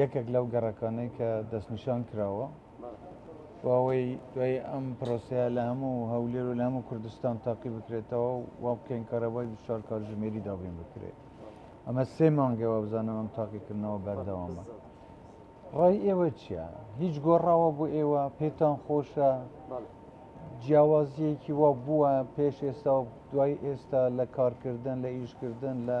یەکێک لەو گەڕەکانەی کە دەستنیشان کراوە بۆ ئەوەی دوای ئەم پرۆسەیە لە هەموو هەولێر و لە هەموو کوردستان تاقی بکرێتەوە و وا بکەین کارەبای 24 کاتژمێری دابین بکرێت ئەمە سێ مانگە وابزانم ئەم تاقیکردنەوە بەردەوامە ڕای ئێوە چییە هیچ گۆڕاوە بۆ ئێوە پێتان خۆشە جیاوازیەکی وا بووە پێش ئێستا دوای ئێستا لە کارکردن لە ئیشکردن لە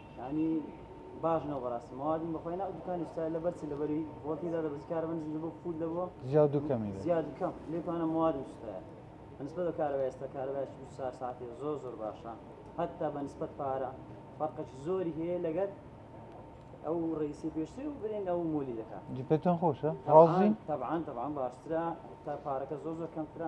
یانی باش نەبوو بەڕاستی ماوادم بەخۆی ناو دوکانی ستا لەبەر چ لەبەری ڤۆڵتی دا دەبەس کارەبا نزم دەبوو فوول دەبوو زیاد و کەمی دەبوو زیاد و کەم لێ توانە ماوادم سوتایا بەنسبەت بە کارەبای ئێستا کارەبای 24 ساعەتی زۆر زۆر باشە هەتا بەنسبەت پارە فەرقێکی زۆری هەیە لەگەر ئەو ڕئیسی پێشتر و برێن ئەو مۆلی دەکات جی پێتان خۆشە ڕازین طبعا طبعا باشترە تا پارەکە زۆر زۆر کەمترە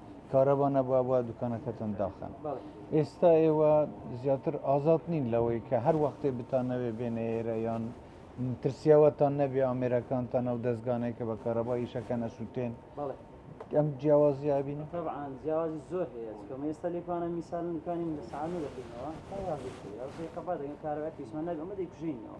کارەبا نەبوو ئەبا دوکانەکەتان داخەن ئێستا ئێوە زیاتر ئازاد نین لەوەی کە هەر وەختێ بتانەوێ بێنە ئێرە یان ترسیاوەتان نەبێ ئامێرەکانتان ئەو دەستگانەیە کە بە کارەبا ئیشەکە نەسووتێن ئەم جیاوازیە بینی طبعاان جیاوازی زۆر هەیە کەمە ئێستا لێکوانە میسال نکانی لە ساانە دەکەینەوە کارەبا دەگە کارەباکیسمان نەبێ ئەمە دەیکوژینەوە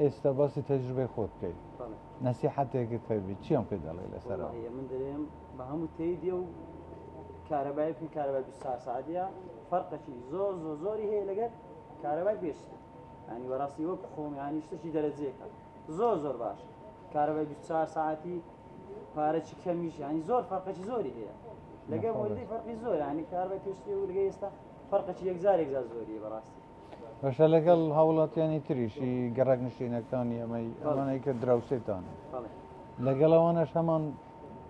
ئێستا باسی تەجروبەی خۆت بکەیت نەسیحەتێکت هەبی چیان پێ دەڵێ لەسەرەوە من دەێم بە هەموو تێدیە و کارەبای بکەین کارەبای ساسادە فەرقەکی زۆر زۆر زۆری هەیە لەگەر کارەبای پێش ینی وەڕاستی وەک خۆم ینی شتێکی دەرەجێکە زۆر زۆر باش کارەبای 24 ساعتی پارەی کەمیش ینی زۆر فەرقەکی زۆری هەیە لەگەر وەردی فەرقی زۆر ینی کاربای پێشتی و لەگە ئێستا فەرقەکی یەکجار یەکجار زۆری بەڕاستی باشە لەگەڵ هاوڵاتیانی تریش ی گەڕەک نشینەکانی ئەمەی ئەمانەی کە دراوسێتان بەڵێ لەگەڵ ئەوانەش هەمان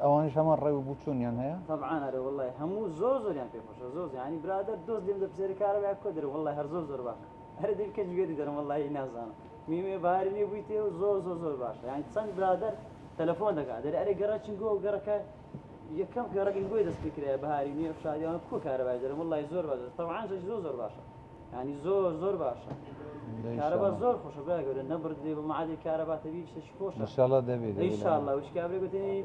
ئەوانیش هەمان ڕێ و بچوونیان هەیە طبعا هەرە والله هەموو زۆر زۆریان پێ خۆشە زۆر زیانی برادەر دۆست لێم دەپرسێری کارە بە کۆ دەرە والله هەر زۆر زۆر باشە هەرە دیر کەچ گوێری دەرم والله نازانم میمێ باری لێ بوویتێ و زۆر زۆر زۆر باشە یانی چەند برادەر تەلەفۆن دەکات دەرێ ئەرێ گەڕەچین گۆ گەڕەکە یەکەم کەڕەگی بۆی دەست پێکرایە بەهاری نوێ شاریان کو کارەبای دەرم وڵی زۆر بەدە تەوان زۆر زۆر زۆر باشە ینی زۆر زۆر باشە کارەبا زۆر خۆشە برا گەورە نەبردێ بە معادی کارەباتەبی شتێکی خۆش انشاءالله دەبێت انشاءالله وش کابرێ گوتنی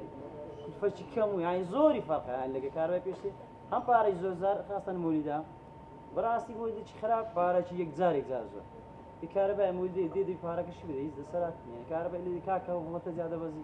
فەرچی کەم و یانی زۆری فەرقە یان لەگە کارەبای پێشتر هەم پارەی زۆر زار خاستن مولیدا بەڕاستی بۆ دچ خراپ پارەکی یەک جارێک زار زۆر کارەبای مولی دێ دێ پارەکەشی بدەیت دەسەرات کارەبای لێ کاکە وڵەتە زیادە بەزی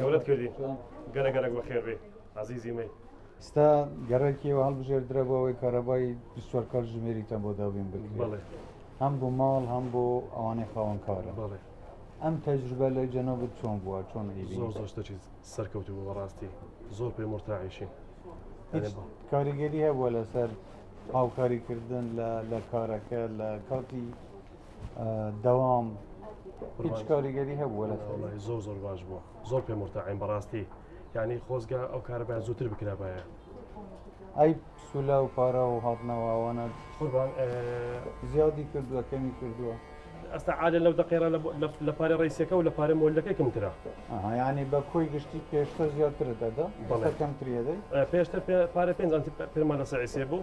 گەورەت کردی گەرە گەرەک بە خێر بێ عزیزی مەی ستا گەرەکی و هەڵبژێر درە بۆ ئەوەی کارەبای دوسوەر کار ژمێریتە بۆ دابین بکرێت هەم بۆ ماڵ هەم بۆ ئەوانەی خاوەن کارە بڵێ ئەم تەجروبە لە جەنەبت چۆن بووە چۆن زۆر زۆر شتەکی سەرکەوت بوو بەڕاستی زۆر پێ مرتاعیشین کاریگەری هەبووە لەسەر هاوکاریکردن لە کارەکە لە کاتی دەوام هیچ کاریگەری هەبووە لە زۆر زۆر باش بووە زۆر پێ مرتعین بەڕاستی یعنی خۆزگە ئەو کارەبای زووتر بکرابایە ئەی سولا و پارە و هاتنەوەوانە قوربان زیادی کردووە کەمی کردووە ئەستا عادە لەو دەقێرا لە پارە ڕیسەکە و لە پارە مۆلەکەی کەمترا یعنی بە کۆی گشتی پێشتر زیاتر دەدا کەمتریەدەی پێشتر پارە پێ پێمان لە سعیسێ بوو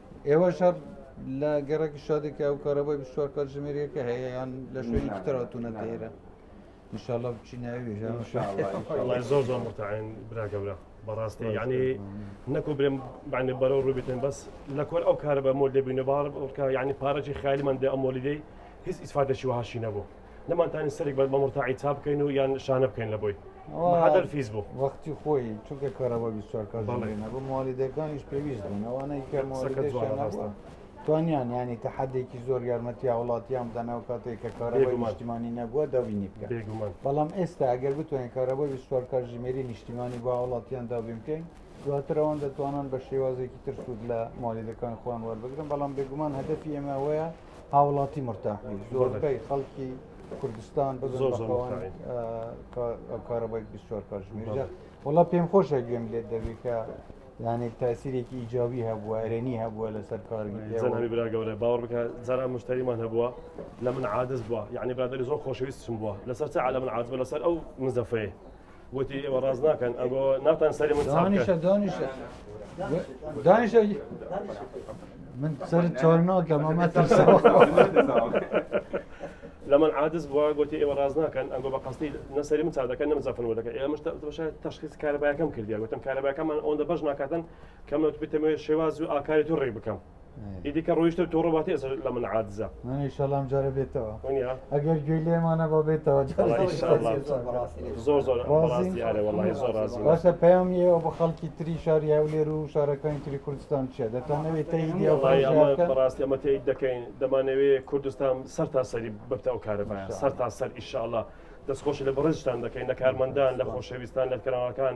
ئێوەش هەر لە گەڕەکی شادێکی ئەو کارەبای بشوار کات ژمێریەکە هەیە یان لە شوێنی پتراتونە دێرە انشاءله بچی ناوی زۆر زۆر متعین براگەورە بەڕاستی یعنی نەکو برێم بانێ بەرە و ڕوبێتن بەس لە کۆر ئەو کارە بە مۆل دەبینە باڕ ڕکە یعنی پارەی خالیمان دە ئەمۆلیدەی هیچ ئیسفاتەشی وهاشی نەبوو نەمانتانی سەرێک بە مەمرتاعی چا بکەین و یان شانە بکەین لە بۆی حدر فیز بوو وەختی خۆی چونکە کارەوە بیسوارکە نەبوو موالیدەکانیش پێویست بوون ئەوانەی کە موالیدەکە توانیان ینی تە حدێکی زۆر یارمەتیا وڵاتیان دەناو کاتێک کە کارەوەی نیشتیمانی نەبووە داوینی بکە بەڵام ئێستا ئەگەر بتوانین کارەوەی بیسوار کارژمێری نیشتیمانی با وڵاتیان داوین بکەین دواتر ئەوان دەتوانن بە شێوازێکی تر سوود لە مالیدەکان خۆیان وەربگرن بەڵام بێگومان هەدەفی ئێمەوەیە هاوڵاتی مرتاح بی زۆربەی خەڵکی کوردستان کارەبای 24 کاتژمێر وڵا پێم خۆشە گوێم لێت دەبێت کە یانێک تاسیرێکی ئیجاوی هەبووە ئەرێنی هەبووە لەسەر کارگەری برا گەورە باوەڕ بکە جارا مشتریمان هەبووە لە من عادز بووە یعنی برادری زۆر خۆشەویستم بووە لەسەر چ عالە من عادز بە لەسەر ئەو مزەفەیە وتی ئێوە ڕاست ناکەن ئەگۆ ناتان سەری من دانیشە دانیشە دانیشە من سەر چۆر ناکەم ئەمە ترسەوە لە من عادز بووە گوتی ئێوە ڕاز ناکەن ئەنگۆ بە قستی نەسەری من چادەکە نەمزەفن وەدەکە ئێمە تشخیص کارەبایەکەم کردیا گوتم کارەبایەکەمان ئەوەندە بەش ناکاتن کەمەوت بتەمەوێت شێواز و ئاکاری تو ڕێ بکەم ئیدی کە ڕۆیشتە و تۆڕە باتی ئەسە لە من عادزە ئیشەڵام جارە بێتەوە ئەگەر گوێ لێمانە بۆ بێتەوە زۆر زۆر باشە پەیامی ئەو بە خەڵکی تری شاری هەولێر و شارەکانی تری کوردستان چیە دەتانەوێت بەڕاستی ئەمە تێیت دەکەین دەمانەوێ کوردستان سەر تا سەری ببتە ئەو کارەبایە سەر تا سەر ئیشاءله دەستخۆش لە بەڕێزشتان دەکەین لە کارمەندان لە خۆشەویستان لە کرانەکان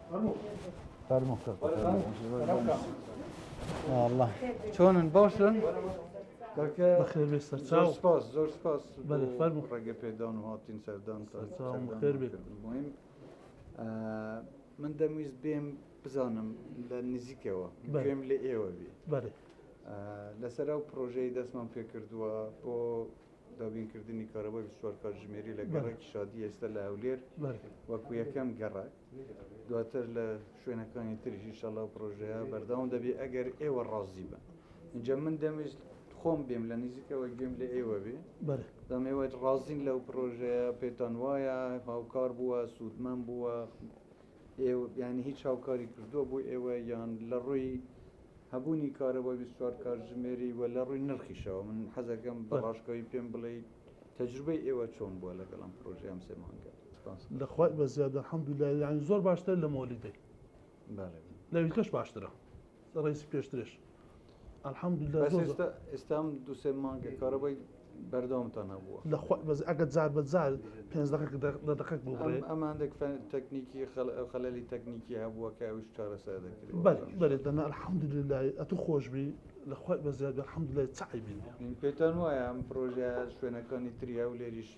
چۆنن باشن؟ زۆر سپاس زۆر سپاس ڕێگە پێدان و هاتین سەردان مهم من دەمویست بێم بزانم لە نزیکەوە بێم لە ئێوە بێ لەسەر ئەو پرۆژەی دەستمان پێ کردووە بۆ دابینکردنی کارەوەی بسوار کاتژمێری لە گەڕێکی شادی ئێستا لە هەولێر وەکو یەکەم گەڕک دواتر لە شوێنەکانی تریش ئیشەڵا پرۆژەیە بەردەوام دەبێت ئەگەر ئێوە ڕازی بن اینجا من دەمویست خۆم بێم لە نزیکەوە گوێم لە ئێوە بێ دەمێوە ڕازین لەو پرۆژەیە پێتان وایە هاوکار بووە سوودمەم بووە ینی هیچ هاوکاری کردووە بۆ ئێوە یان لە ڕووی هەبوونی کارەوە ویستوار کارژمێری وە لە ڕووی نرخیشەوە من حەزەکەم بەڕاشکەوی پێم بڵێ تەجروبەی ئێوە چۆن بووە لەگەڵم پرۆژیان سێمانگەت لە خوای بەزیادە الحمدللە یانی زۆر باشتر لە مۆلیدەی لەویلکەش باشترە ڕێسی پێشترێش الحمدللە ئێستام دوسێ مانگە کارەبای بەردەوامتان هەبووە لە بەز ئەگە جار بە جار پێنج دقک لە دقک بوو ئەم هەندێک تەکنیکی خەلەلی تەکنیکی هەبووە کە ئەوش چارەسەر دەکرێت بەێت دەنا الحمدللە ئەتو خۆشببی لە خۆی بەزیاد الحمدللە چعی بین پێتان وایە ئەم پرۆژە شوێنەکانی تریا و لێریش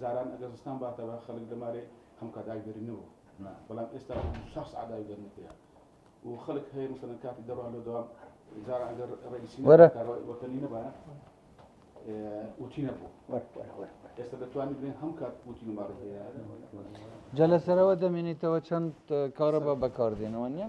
جاران ئەگەر زستان باتەوە خەلک لەمارێ هەموکات ئاوی دەرینەوە بەلام ئێستا شەش سەعات ئاوی دەرنە پێیا و خەلک هەیە مەسەلەن کاتی دەروا لۆ دەوام جاران ئەگەر رەیسی وەتەنی نەبایە جە لەسەرەوە دەمێنیتەوە چەند کارە بە بەکاردێنەوە نیە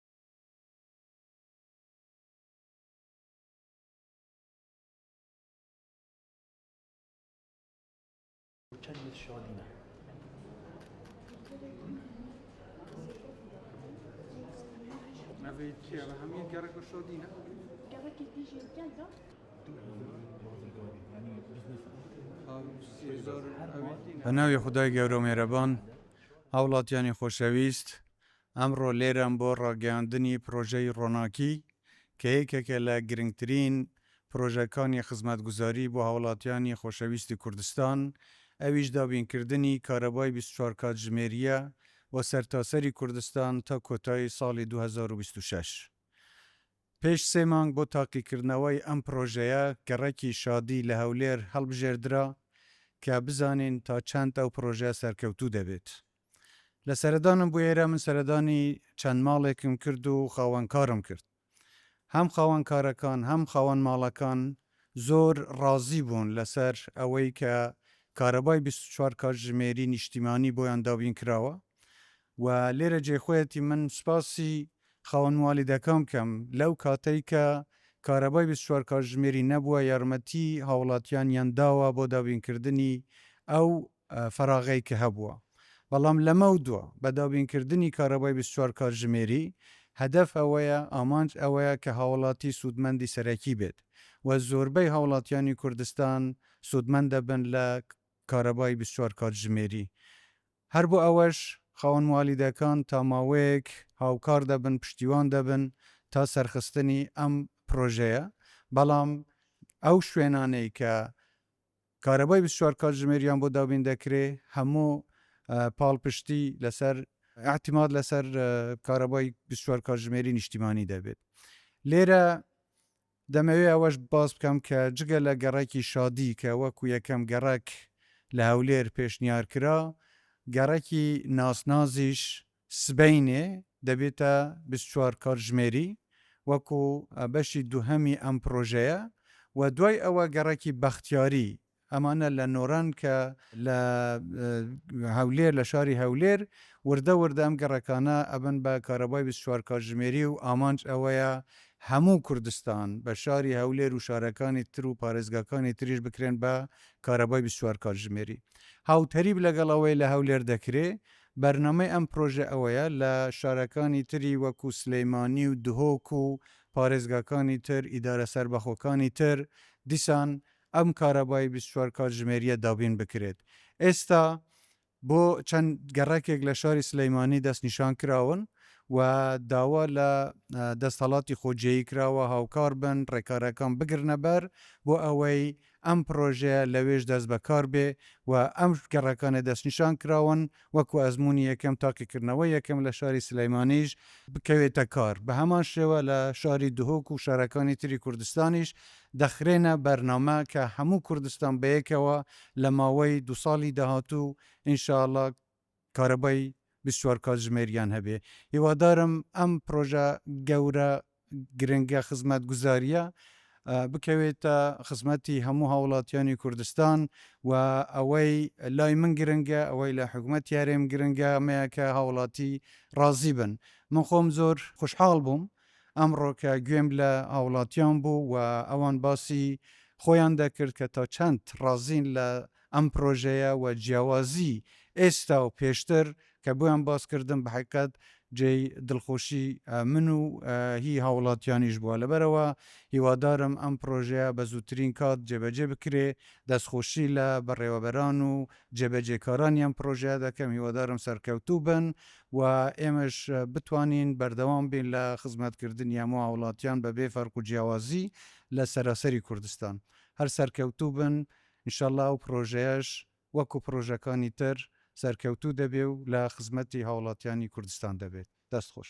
بە ناوی خودای گەورە و مێرەبان، هاوڵاتیانی خۆشەویست، ئەمڕۆ لێرەم بۆ ڕاگەیاندنی پڕۆژەی ڕۆناکی کە یەکێکە لە گرنگترین پڕۆژەکانی خزمەتگوزاری بۆ هاوڵاتیانی خۆشەویستی کوردستان، ئەویش دابینکردنی کارەبای بیست و چوار کاتژمێرییە بۆ سەرتاسەری کوردستان تا کۆتایی ساڵی دوو هەزار و بیست و شەش. پێش سێ مانگ بۆ تاقیکردنەوەی ئەم پڕۆژەیە گەڕەکی شادی لە هەولێر هەڵبژێردرا کە بزانین تا چەند ئەو پڕۆژە سەرکەوتوو دەبێت. لە سەردانم بۆ ئێرە من سەردانی چەند ماڵێکم کرد و خاوەن کارم کرد. هەم خاوەن کارەکان هەم خاوەن ماڵەکان زۆر ڕازی بوون لەسەر ئەوەی کە کارەبای بیست و چوار کاتژمێری نیشتیمانی بۆیان دابین کراوە و لێرە جێی خۆیەتی من سپاسی خاوەن موالیدەکان بکەم لەو کاتەی کە کارەبای بیست و چوار کاتژمێری نەبووە یارمەتی هاوڵاتیانیان داوە بۆ دابین کردنی ئەو فەراغەی کە هەبووە بەڵام لەمەو دوا بە دابین کردنی کارەبای بیست و چوار کاتژمێری هەدەف ئەوەیە ئامانج ئەوەیە کە هاوڵاتی سوودمەندی سەرەکی بێت و زۆربەی هاوڵاتیانی کوردستان سوودمەند دەبن لە کارەبای بیست و چوار کاتژمێری هەر بۆ ئەوەش خاوەن موالیدەکان تا ماوەیەک هاوکار دەبن پشتیوان دەبن تا سەرخستنی ئەم پرۆژەیە بەڵام ئەو شوێنانەی کە کارەبای بیست و چوار کاتژمێریان بۆ دابین دەکرێ، هەموو پاڵپشتی لەسەر ئیعتیماد لەسەر کارەبای بیست و چوار کاتژمێری نیشتیمانی دەبێت. لێرە دەمەوێ ئەوەش باس بکەم کە جگە لە گەڕەکی شادی کە وەکو یەکەم گەڕەک لە هەولێر پێشنیار کرا، گەڕەکی ناسنازیش سبەینێ دەبێتە بیست و چوار کاتژمێری وەکو بەشی دووهەمی ئەم پرۆژەیە و دوای ئەوە گەڕەکی بەختیاری ئەمانە لە نۆران کە لە هەولێر لە شاری هەولێر وردە وردە ئەم گەڕەکانە ئەبن بە کارەبای بیست و چوار کاتژمێری و ئامانج ئەوەیە هەموو کوردستان بە شاری هەولێر و شارەکانی تر و پارێزگاکانی تریش بکرێن بە کارەبای بیست و چوار کاتژمێری هاوتەریب لەگەڵ ئەوەی لە هەولێر دەکرێ بەرنامەی ئەم پرۆژە ئەوەیە لە شارەکانی تری وەکو سلیمانی و دهۆک و پارێزگاکانی تر، ئیدارە سەربەخۆکانی تر دیسان ئەم کارەبای بیست و چوار کاتژمێریە دابین بکرێت. ئێستا بۆ چەند گەڕەکێک لە شاری سلیمانی دەست نیشان کراون و داوا لە دەستەڵاتی خۆجێی کراوە هاوکار بن، ڕێکارەکان بگرنە بەر بۆ ئەوەی ئەم پڕۆژەیە لەوێش دەست بەکار بێ و ئەم گەڕەکانە دەستنیشان کراون وەکو ئەزموونی یەکەم تاقیکردنەوەی یەکەم لە شاری سلێمانیش بکەوێتە کار بە هەمان شێوە لە شاری دهۆک و شارەکانی تری کوردستانیش دەخرێنە بەرنامە کە هەموو کوردستان بەیەکەوە لە ماوەی دوو ساڵی داهاتوو ان شاء اللە کارەبای بیست و چوار کاتژمێریان هەبێ. هیوادارم ئەم پرۆژە گەورە گرنگە خزمەتگوزارییە بکەوێتە خزمەتی هەموو هاوڵاتیانی کوردستان و ئەوەی لای من گرنگە ئەوەی لە حکومەتی هەرێم گرنگە ئەمەیە کە هاوڵاتی ڕازی بن. من خۆم زۆر خوشحاڵ بووم ئەمڕۆ کە گوێم لە هاوڵاتیان بوو و ئەوان باسی خۆیان دەکرد کە تا چەند ڕازین لە ئەم پرۆژەیە و جیاوازی ئێستا و پێشتر کە بۆیان باس کردم بەحەقیقەت جێی دڵخۆشی من و هی هاوڵاتیانیش بووە لەبەرئەوە هیوادارم ئەم پرۆژەیە بە زووترین کات جێبەجێ بکرێ دەستخۆشی لە بەڕێوەبەران و جێبەجێکارانی ئەم پرۆژەیە دەکەم هیوادارم سەرکەوتوو بن و ئێمەش بتوانین بەردەوام بین لە خزمەت کردنی هەموو هاوڵاتیان بەبێ فەرق و جیاوازی لە سەراسەری کوردستان هەر سەرکەوتوو بن انشاللە ئەو پڕۆژەیەش وەکو پڕۆژەکانی تر سەرکەوتوو دەبێ و لە خزمەتی هاوڵاتیانی کوردستان دەبێت. دەست خۆش.